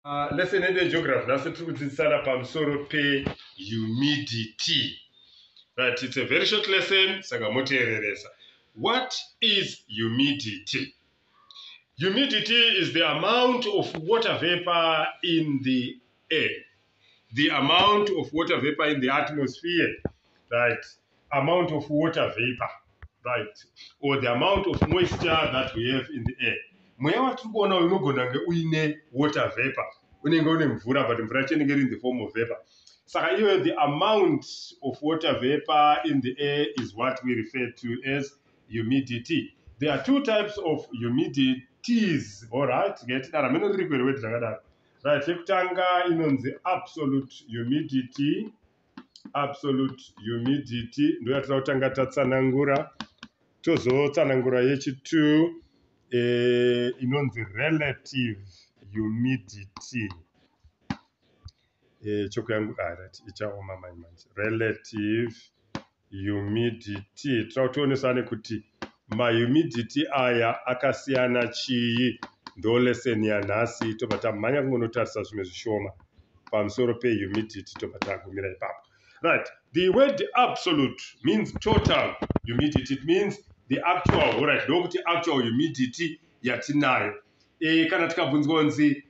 Uh, lesson yedu yegeography nhasi tiri kudzidzisana pamusoro pehumidity right it's a very short lesson saka moteereresa what is humidity humidity is the amount of water vapor in the air the amount of water vapor in the atmosphere right amount of water vapor right or the amount of moisture that we have in the air mweya watiri kuona uyu unogona kunge uine water vapor unenge une mvura but mvura yacho inenge iri in the form of vapor saka iyoyo the amount of water vapor in the air is what we refer to as humidity there are two types of humidities allright ngaitidara mene riri kwerewe titakadaro right yekutanga inonzi absolute humidity absolute humidity ndoyatinoda kutanga tatsanangura tozotsanangura yechitu e, eh, inonzi relative humidity e, eh, choko yangu arati ah, ichaoma mai manje relative humidity tira kuti tionesane kuti mahumidity aya akasiyana chii ndo lesson yanhasi tobva tamhanya kungonotarisa zvimwe zvishoma pamusoro pehumidity tobva tagumira ipapo right the word absolute means total humidity it means the actual horit ndokuti actual humidity yatinayo e, kana tikabvunzwa kunzi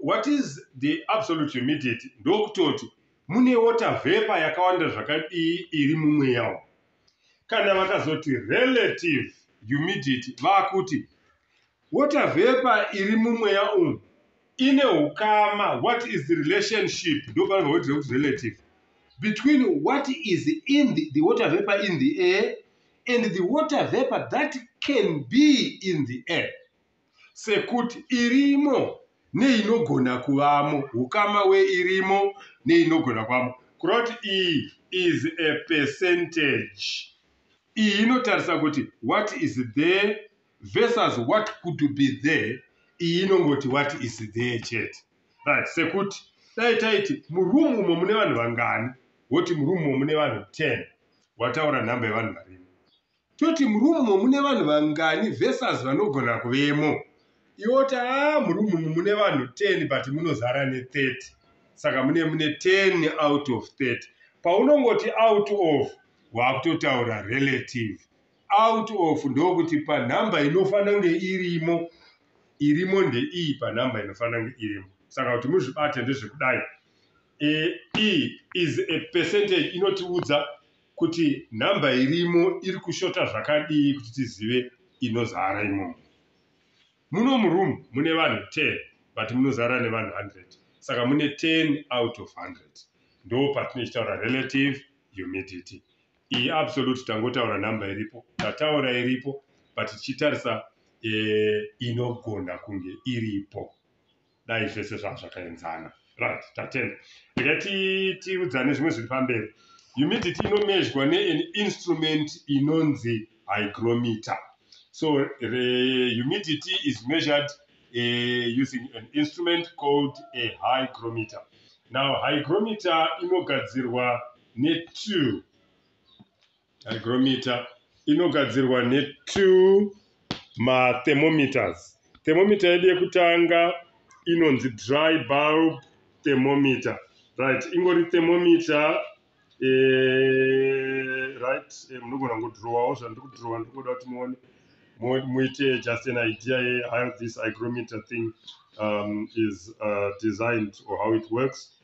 what is the absolute humidity ndokutoti Mune water vapor yakawanda zvakadii iri mumweya umu. Kana vakazoti relative humidity vakuti water vapor iri mumweya umu ine hukama what is the relationship ndopavanobva voitira kuti relative between what is in the, the water vapor in the air and the water vapor that can be in the air. sekuti irimo neinogona kuvamo ukama weirimo neinogona kuvamo kureva kuti iyi is a percentage iyi inotarisa kuti what is there versus what could be there iyi inongoti what is there chete right sekuti dai taiti muroom umo mune vanhu vangani woti muroom umo mune vanhu 10 wataura nhamba yevanhu varimo Toti muroom umo mune vanhu vangani versus vanogona kuvemo. Iwe woti haa muroom umu mune vanhu 10 but munozara ne 30 saka mune mune 10 out of 30. Paunongoti out of wakutotaura relative. Out of ndokuti panhamba inofanira kunge irimo irimo ndeiyi panhamba inofanira kunge irimo. Saka kuti muzvibate ndezvekudai. E, e is a percentage inotiudza kuti number irimo iri kushota zvakadii kuti tizive inozara imomo muno muroom mune vanhu 10 but munozara nevanhu 100 saka mune 10 out of 100 ndo patinochitaura relative humidity iyi absolute tangotaura number iripo tataura iripo but tichitarisa eh, inogona kunge iripo dai zvese zvanga zvakaenzana right tatenda rega tiudzane zvimwe zviri pamberi humidity inomezhwa neen instrument inonzi hygrometer so the humidity is measured uh, using an instrument called a hygrometer now hygrometer inogadzirwa netwo Hygrometer inogadzirwa ne two ma thermometers. Thermometer yedu yekutanga inonzi dry bulb thermometer. Right, ingori thermometer eh, right, eh, munogona kungodhirowawo zvandiri kudhirowa ndiri kuda kuti muone muite just an idea ye how this hygrometer thing um, is uh, designed or how it works.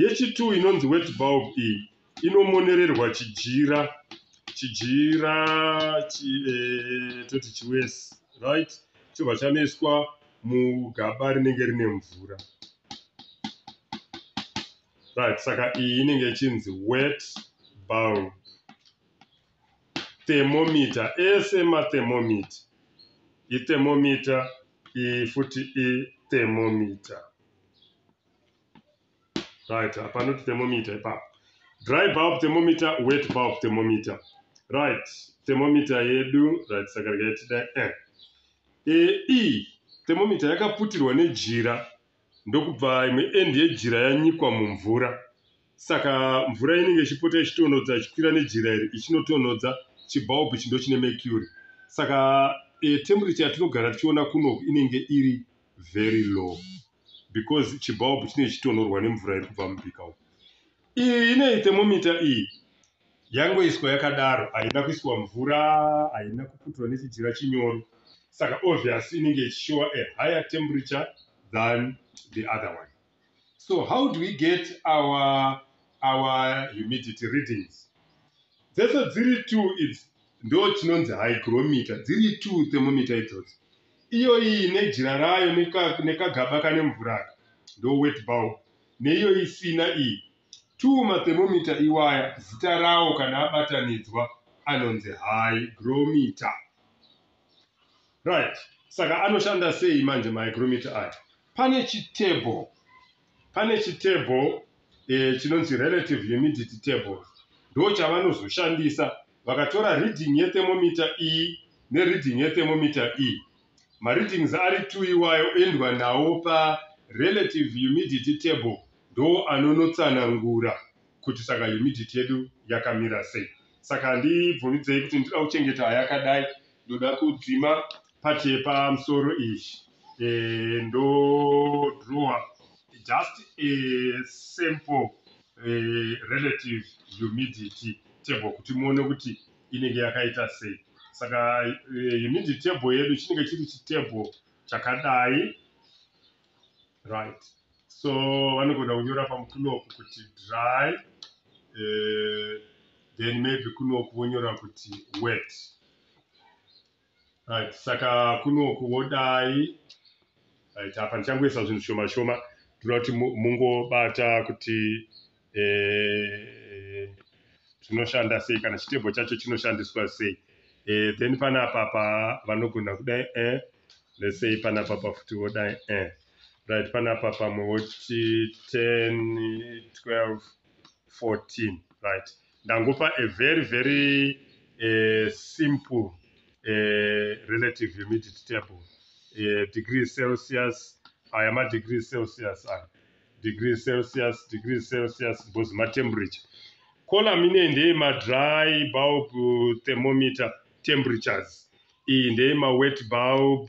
Yechi-two inonzi wet bulb iyi inomonererwa chijira chijira chi, eh, toti chiwesi right chobva chanoiswa mugaba rinenge rine mvura right saka iyi inenge ichinzi wet bulb thermometer ese mathermometer ithermometer iyi futi ithermometer right apa anoti thermometer ipapo dry bulb thermometer wet bulb thermometer right thermometer yedu right saka rikaitida eh. e e thermometer yakaputirwa nejira ndokubva imwe end yejira yanyikwa mumvura saka mvura inenge ichipota ichitonhodza ichikwira nejira iri ichinotonhodza chibulb chindo chine mercury saka e, temperature yatinogara tichiona kuno inenge iri very low because chibulb chine chitonhorwa nemvura iri kubva mubika uku iyi ine thermomita iyi yangoiswa yakadaro haina kuiswa mvura haina kuputwa nechijira chinyoro saka obvious inenge ichishowa a higher temperature than the other one so how do we get our, our humidity readings dzese dziri t idzi ndo chinonzi hygrometer dziri t thermometer idzodzo iyoiyi nejira rayo nekagaba kane mvuraka ndo wet bulb neiyo isina iyi t mathermometer iwaya zita rawo kana abatanidzwa anonzi hygrometer right saka anoshanda sei manje mahygrometer ayo pane chitable pane chitable eh, chinonzi relative humidity table ndo chavanozoshandisa vakatora reading yethermometer e nereading yethermometer e mareadings ari two iwayo endwa nawo pa relative humidity table ndo anonotsanangura kuti saka humidity yedu yakamira sei saka handibvumidzei kuti ndinoda kuchengeta yakadai ndoda kudzima part yepamusoro iyi eh, ndodrawer just a simple eh, relative humidity table kuti muone kuti inenge yakaita sei saka eh, humidity table yedu chinenge chiri chitable chakadai right so vanogona kunyora pamukunoku kuti dry eh, then maybe kunoku vonyora kuti wet right saka kunoku wodai right apa ndichangoisa zvinhu shoma shoma tinoda kuti mungobata kuti eh, zvinoshanda sei kana chitebho chacho chinoshandiswa sei eh, then panapa pa vanogona kudai eh, let's say panapa pa futi wodai eh. right panapa pamwe woti 10 12 14 right Ndangopa a very very uh, simple uh, relative humidity table uh, degree celsius aya ma degree celsius aya degree celsius degree celsius bozi ma temperature column ine ndeye ma dry bulb thermometer temperatures iyi ndeye ma wet bulb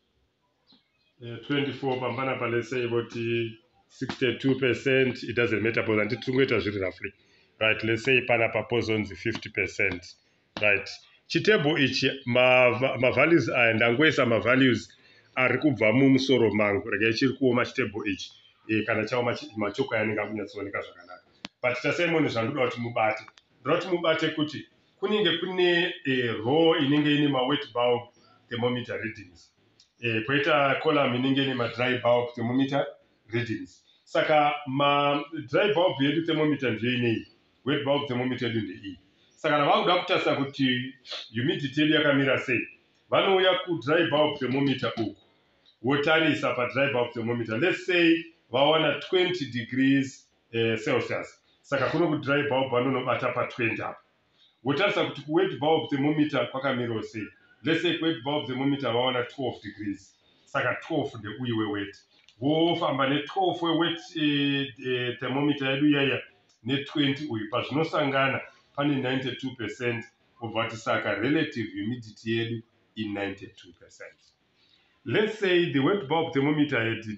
24 pambana pa let's say voti 62 percent it doesn't matter because handiti tiri ngoita zviri roughly right let's say pana pa pozonzi 50 percent right chitable ichi mavalues ma aya ndangoisa mavalues ari kubva mumusoro mangu regai chiri kuoma chitable ichi e, kana chaoma machoko ayanenge akunyatsooneka zvakanaka but tasaimoni zvandoda kuti mubate ndoda kuti mubate kuti kunenge kune eh, row inenge ine mawet bulb thermometer readings eh, poita column inenge ine madry bulb thermometer readings saka madry bulb yedu thermometer ndiyo inei wet bulb thermometer yedu ndeiyi saka kana vakuda kutarisa kuti humidity yedu yakamira sei vanouya kudry bulb thermometer uku wotarisa padry bulb thermometer let's say vawana 20 degrees eh, celsius saka kuno kudry bulb anonobata pa 20 apo wotarisa kuti kuwet bulb thermometer kwakamirawo sei let's say kuwet bulb thermometer vaona 12 degrees saka 12 ndeuyu wewet wofamba ne12 wewet eh, eh, thermometer yedu iyaiya ne20 uyu pazvinosangana pane 92 percent obva ti saka relative humidity yedu i 92 percent let's say the wet bulb thermometer had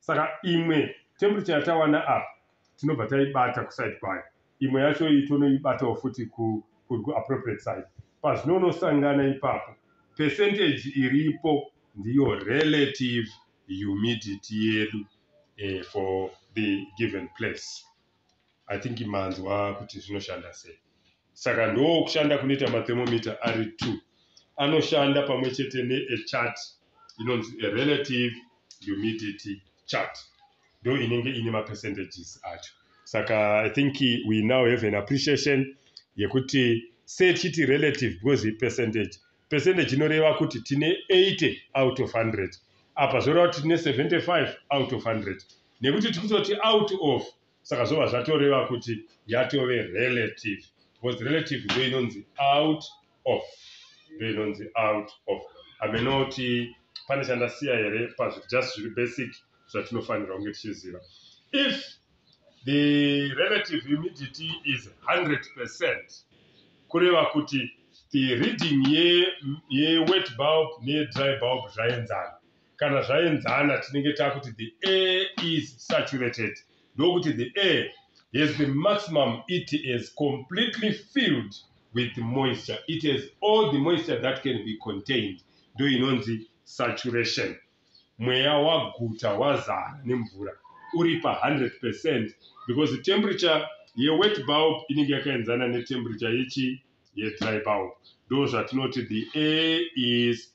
saka imwe temperature yatawana apa tinobva taibata kuside kwayo imwe yacho iyi tonoibatawo futi kuappropriate side pazvinoonosangana ipapo percentage iripo ndiyo relative humidity yedu eh, for the given place i think manzwa kuti zvinoshanda sei Saka ndokushanda kunoita mathermometer ari two anoshanda pamwe chete neechart inonzi erelative humidity chart ndo inenge ine mapercentages acho saka i think we now have an appreciation yekuti sechiti relative because ipercentage percentage inoreva kuti tine 80 out of 100 apa zvoreva kuti tine 75 out of 100 nekuti tikutoti out of saka zvobva zvatoreva kuti yatove relative because relative ndiyo inonzi out of ndiyo inonzi out of hameno kuti pane chandasiya here pazviri just zviri basic zvatinofanirwa kunge tichiziva if the relative humidity is 100 percent kureva kuti the reading yewet ye bulb neyedry bulb zvaenzana kana zvaenzana tinenge takuti the air is saturated ndokuti the air has the maximum it is completely filled with moisture it has all the moisture that can be contained ndo inonzi saturation mweya waguta wazara nemvura uri pa 100 percent because the temperature yewet bulb inenge yakaenzana netemperature yechi yedry bulb ndo zvatinoti the air is